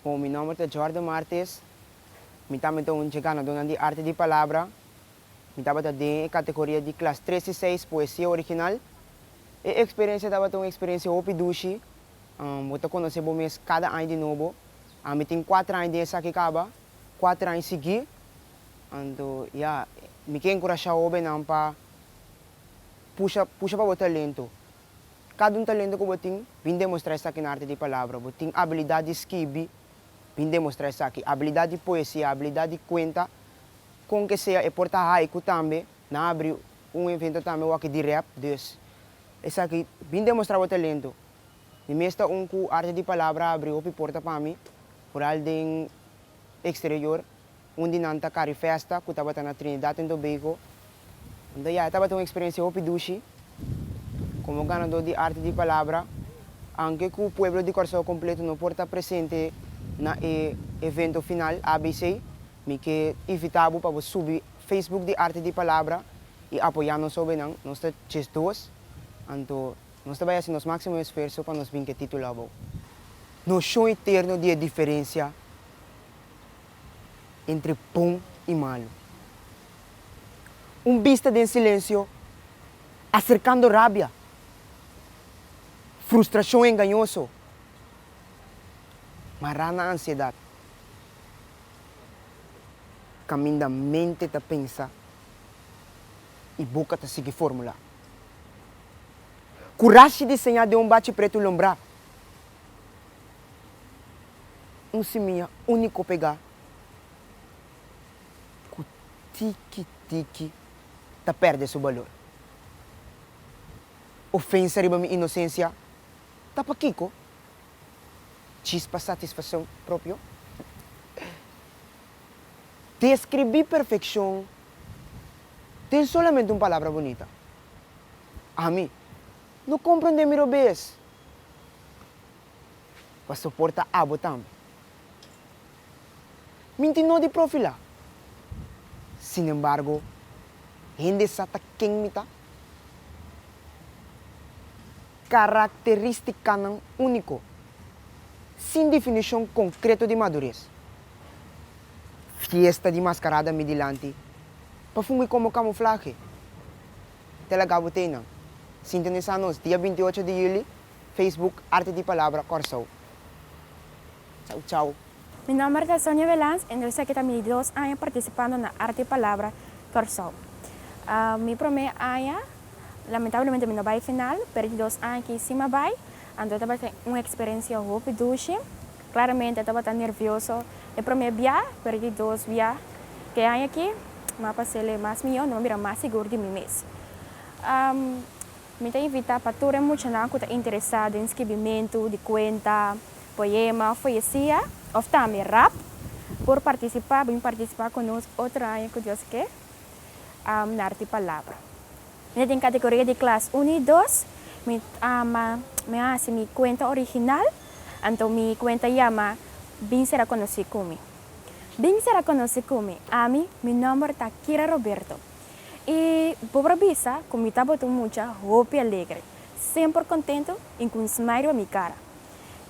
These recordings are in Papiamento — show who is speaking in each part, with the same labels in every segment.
Speaker 1: Bo, mi nomber ta Jordan Martes. Mi tambe ta un dje ganadonan di Arte di Palabra. Mi tabata den e kategoria di klas tres i seis, Poesia Original. E eksperensia tabata un eksperensia hopi dushi. Bo ta konosé bo mes kada aña di nobo. Ami tin kuater aña den esaki kaba. kuater aña siguí. Anto ya, mi ke enkurashá hóbennan pa pusha pusha pa bo talento. Kada un talento ku bo tin, bin demostrá esaki na arte di palabra. Bo tin abilidat di skibi, bin demostrá esaki. Abilidat di poesia, abilidat di kuenta, kon ke sea. E por ta haiku tambe. Nan a abri un evento tambe wak di rèp. Dus, esaki, bin demostrá bo talento. Mi mes ta un ku arte di palabra a abri hopi porta pa mi. Hural den exterior, un di nan ta Carrie Festa cu tabata na Trinidad en Tobago. Anto ya e tabata un experiencia hopi dushi. Como ganador di Arte di Palabra, anke cu pueblo di Curaçao completo no por ta presente na e evento final, abc, mi ke invita bo pa bo subi Facebook di Arte di Palabra y apoya nos hobennan. Nos ta djesdos, anto Nos ta bai hasi nos máximo esfuerso pa nos bin ku e título abou. Noshon eterno di e diferensia entre bon i malu. Un bista den silensio aserkando rabia, frustrashon engañoso, mará na ansiedat, kaminda mente ta pensa i boka ta sigui formulá. ku rashi diseñá den un bachi pretu lombrá. Un simiña úniko pegá ku tiki tiki ta pèrdè su balor. Ofensa riba mi inosensia ta pa kiko? Chispa satisfakshon propio? Describí perfeccion den solamente un palabra bunita. Ami no comprende mi robes. Pa soporta abo tambe. Minti no di profilá. Sin embargo, hende sa ta ken mi ta. Característicanan único, sin definición concreto di madurez. Fiesta di mascarada mi dilanti pa fungui como camuflaje tel a gabo t'ey nan. Sintonisa nos dia binti ocho di juli Facebook Arte di Palabra Corsou. Chau chau. Mi nomber ta Sonia Velans en esaki ta mi dos aña participando na Arte di Palabra Corsou. Mi prome aña lamentablemente mi no bay final pero di dos aña aki si mi a bay anto tabata un experencia hopi dushi. Klaramente e tabata nervioso e promé bia, pero di dos bia k'e aña akí mi a paséle mas mihó, mi a mira mas sigur di mi mes. Mi ta invitá pa tur e muchanan ku ta interesá den skibimentu di kuenta, poema òf poesia, òf tambe rap, por partisipá, bin partisipá ku nos otro aña ku Dios ke. am narti palabra. Ene den kategoria di klas uno i dos mi ama mi a hasi mi kuenta original anto mi kuenta yama Bin sera konosí ku mi. Bin sera konosí ku mi, ami mi nòmber ta Kira Roberto i bo por bisa ku mi tabata un mucha hopi alegre, semper kontentu i ku un smai riba mi kara.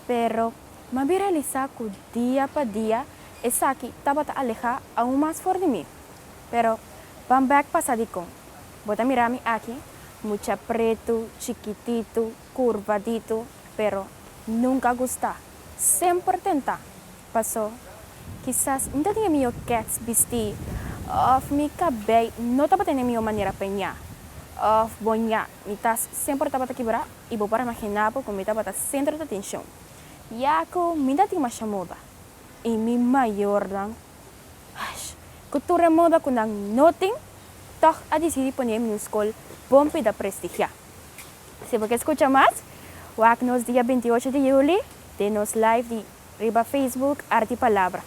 Speaker 1: Pero mi a bin realisá ku dia pa dia esaki tabata alehá aun mas for di mi. Pero, pan bek pasa di con. Bo ta mira mi aki, mucha pretu, chikititu, curvaditu, pero nunca gusta, semper tenta. Paso, kisas mi ta tin e mijo kets bisti, of mi cabey no tabata na e mijo manera peña, of bo ña, mi tas semper tabata kibra y bo por a magina bo cu mi tabata centro di atencion, ya cu mi no ta tin masha moda y mi mayornan Ash, ku tur e moda ku nan no tin, tòg a disidí pone e miuskol bon pida prestigiá. Si bo ke skucha mas, wak nos dia bintiocho di yuli den nos live di riba Facebook Arti Palabra.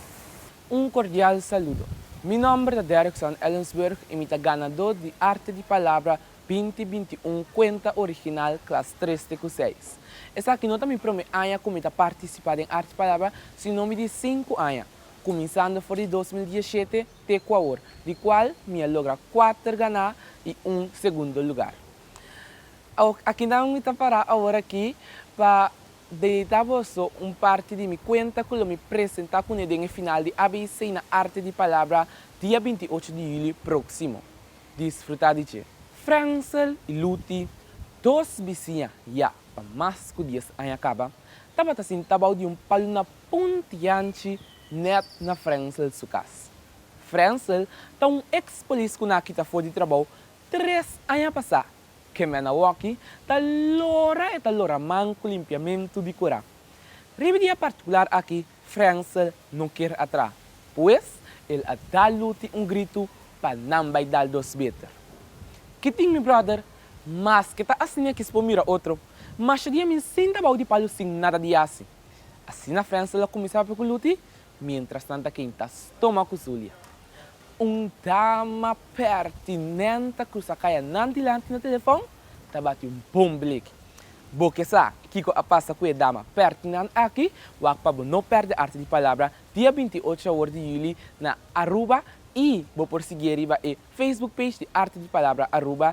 Speaker 1: Un kordial saludo. Mi nòmber ta Derrickson Ellensburg i mi ta ganadó di Arte di Palabra binti binti un Kuenta Original Klas Tres te ku Seis. Esaki no ta mi promé aña ku mi ta partisipá den Arte di Palabra, sino mi di sinku aña. kuminsando for di dos mil diesshete te ku awor, di kual mi a logra kuater ganá i un segundo lugar. Awor, aki nan mi ta pará awor aki pa deitá boso un parti di mi kuenta ku lo mi presentá kuné den e final di ABC na Arte di Palabra dia binti ocho di julio próksimo. Disfrutá di dje! Fransel i Luti, dos bisiña ya pa mas ku dies aña kaba, tabata sintá bou di un palu na Un tianchi nèt na Frensel su kas. Frensel ta un eks polis ku na kita for di trabou tres aña pasá. Kemèn awoki ta lora e ta lora man ku limpiamentu di kura. Riba di e partikular aki Frensel no kier a traha, pues el a da Luti un gritu pa nan bai dal dos beter. Ki tin mi bròder, maske ta asina kis por mira otro, masha di ami sinta bou di palu sin nada di hasi. Asina Frensel a kuminsá papia ku Luti, mientrastanta Kein ta stoma ku Zulia. Un dama pertinent a krusa kai anan dilanti na telefòn, ta bati un bon blik. Bo ke sa kiko a pasa ku e dama pertinent aki? Wak pa bo no pèrdè arte di palabra dia binti e ocho awor di yuli na Aruba i bo por sigui e riba e Facebook page di Arte di Palabra Aruba